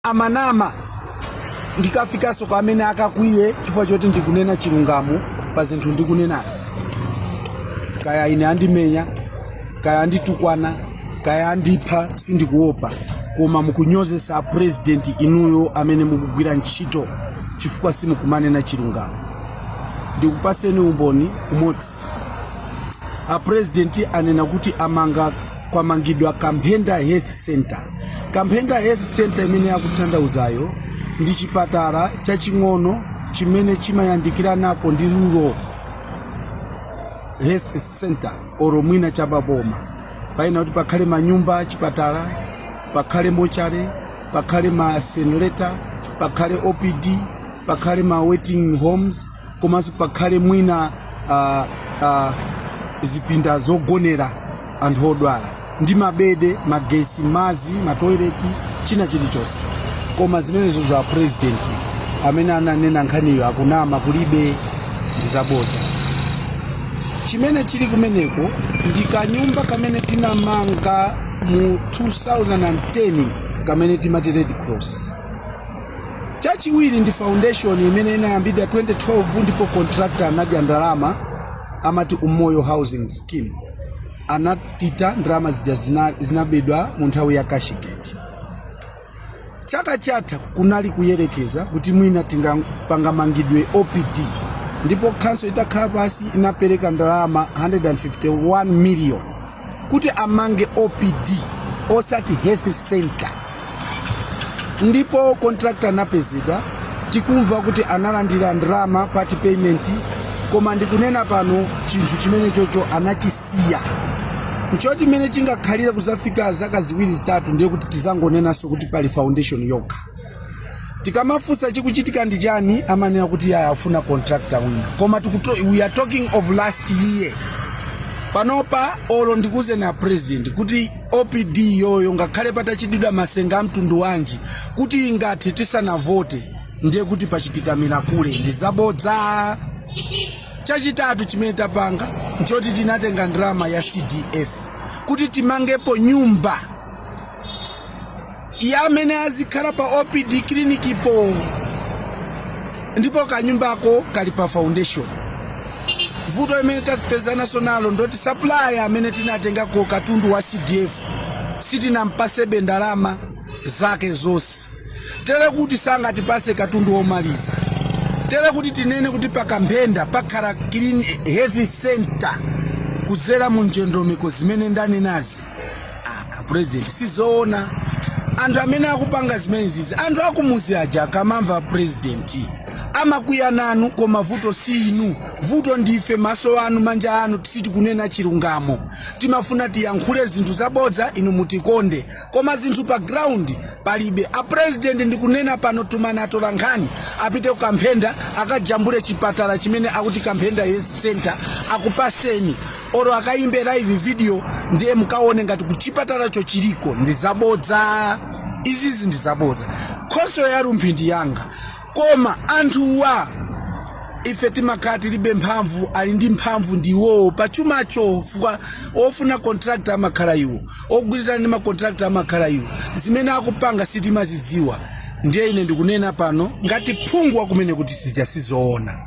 amanama ndikafikanso kwa amene angakwiye chifukwa choti ndikunena chilungamo pa zinthu ndikunenazi kaya ine andimenya kaya anditukwana kaya andipha sindikuopa koma mukunyozesa a president inuyo amene mukugwira ntchito chifukwa simukumanena chilungamo ndikupaseni umboni umodzi a president anena kuti amanga kwamangidwa kamphenda health center kamphenda health center imene akutanthauzayo ndi chipatala chaching'ono chimene chimayandikiranako ndi rural health center oro mwina cha pa boma panayenera kuti pakhale manyumba achipatala pakhale mochale pakhale ma senleta pakhale opd pakhale ma waiting homes komanso pakhale mwina ah, ah, zipinda zogonera anthu odwala ndi mabede magesi mazi matoileti china chilichonse koma zimenezo za president amene ananena nkhaniyo akunama kulibe ndizabodza chimene chili kumeneko ndi kanyumba kamene tinamanga mu 2010 kamene timati red cross Chachiwiri ndi foundation imene inayambidwa 2012 ndipo contractor anadya ndalama amati Umoyo Housing Scheme. Anapita ndalama zija zinabedwa mu nthawi ya Cashgate. Chaka chatha kunali kuyerekeza kuti mwina pangamangidwe OPD ndipo khonsolo itakhala pasi inapereka ndalama 151 million kuti amange opd osati health center ndipo contractor anapezedwa tikumva kuti analandira ndalama part payment koma ndikunena pano chinthu chimenecho anachisiya nchoti mmene chingakhalire kuzafika zaka ziwiri zitatu ndiye kuti tizangonenanso kuti pali foundation yokha tikamafunsa chikuchitika ndi chani amanena kuti yaya afuna contractor wina koma tikuto- we are talking of last year panopa olo ndikawauze a president kuti opd yo ngakhale patachitidwa masenga a mtundu wanji kuti ingathe tisanavote ndiye kuti pachitika milakule ndi zabodza chachitatu chimene tapanga nchoti tinatenga ndalama ya cdf kuti timangepo nyumba ya amene azikhala pa opd clinikipo ndipo kanyumbako kali pa foundation vuto limene tapezanaso nalo ndoti supplier amene tinatengako katundu wa cdf sitinampasebe ndalama zake zonse tere kuti sangatipase katundu womaliza tere kuti tinene kuti pakamphenda pakhala health center kudzera mu ndondomeko zimene ndanenazi A president sizoona anthu amene akupanga zimenezizi anthu akumuzi aja akamamva a president amakwiya nanu koma vuto si inu vuto ndife maso anu manja anu ti- sitikunena chilungamo timafuna tiyankhule zinthu zabodza inu mutikonde koma zinthu pa ground palibe a president ndikunena pano tumani atola nkhani apite ku kamphenda akajambule chipatala chimene akuti kamphenda health center akupaseni olo akayimbe live video ndiye mukawone ngati kuchipatalacho chiliko ndi zabodza izizi ndi zabodza khonsolo ya rumphi ndi yanga koma anthuwa ife timakhala tilibe mphamvu ali ndi mphamvu ndi iwowo pa chumacho fukwa ofuna contractor amakhala iwo ogwirizana ndi macontract amakhala iwo zimene akupanga sitimazidziwa ndiye ine ndikunena pano ngati phungu wakumene kuti sija sizoona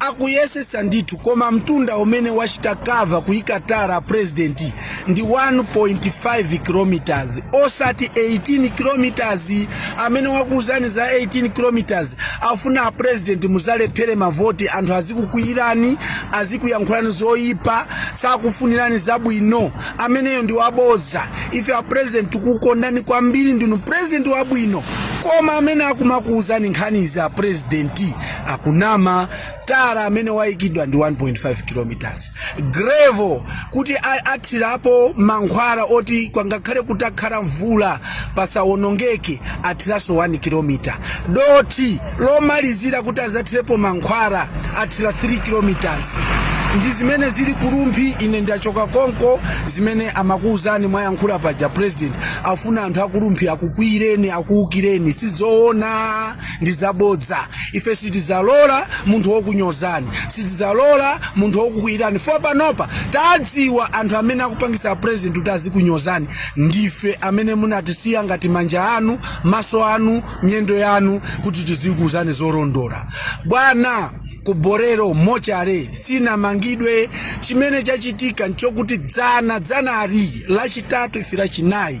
akuyesetsa ndithu koma mtunda umene wachita cover kuyika tara a president ndi 1.5 kilometers osati 18 kilometers amene wakuuzani za 18 kilometers afuna a president muzalephere mavoti anthu azikukwiyirani azikuyankhulani zoyipa sakufunirani zabwino ameneyo ndi wabodza ife a president tikukondani kwambiri ndinu president wabwino koma amene akumakuuzani nkhanizi a president akunama tara amene wayikidwa ndi 1.5 kilometers gravel kuti athirapo mankhwala oti kwangakhale kutakhala mvula pasawonongeke athiranso 1 kilometer dothi lomalizira kuti azathirepo mankhwala athira 3 kilometers ndi zimene zili ku Rumphi ine ndachoka konko zimene amakuwuzani mwayankhula paja president afuna anthu aku Rumphi akukwiyireni akuwukireni sizoona ndi zabodza ife sitizalola munthu wokunyozani sitizalola munthu wokukwiyirani fo panopa tadziwa anthu amene akupangisa president kuti azikunyozani ndife amene munatisiya ngati manja anu maso anu miyendo yanu kuti tizikuuzani zolondola bwana ku Bolero mortuary sinamangidwe chimene chachitika nchokuti dzana dzanali lachitatu ife lachinayi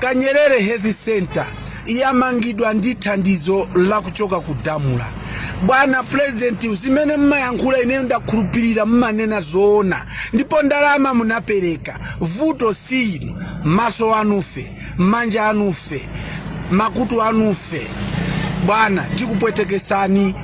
Kanyerere Health Centre yamangidwa ndi thandizo lakuchoka ku DAMRA. Bwana President, zimene mmayankhula ineyo ndakhulupirira mmanena zoona, ndipo ndalama munapereka. Vuto si inu, maso anufe, manja anufe, makutu anufe. Bwana, tikupwetekesani.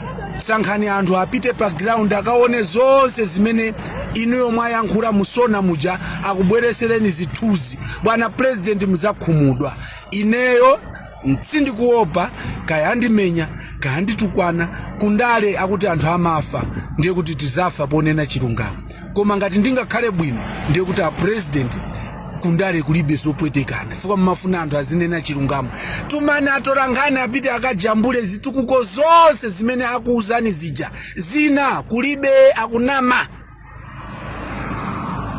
Sankhani anthu apite pa ground akaone zonse zimene inuyo mwayankhula mu SONA muja akubweresereni zithunzi. bwana purezidenti muzakhumudwa ineyo sindikuopa kaya andimenya kaya anditukwana kundale akuti anthu amafa ndiye kuti tizafa ponena chilungamo koma ngati ndingakhale bwino ndiye kuti apurezidenti kundale kulibe zopwetekana chifukwa mumafuna anthu azinena chilungamo tumani atolankhani apite akajambule zitukuko zonse zimene akuuzani zija zina kulibe akunama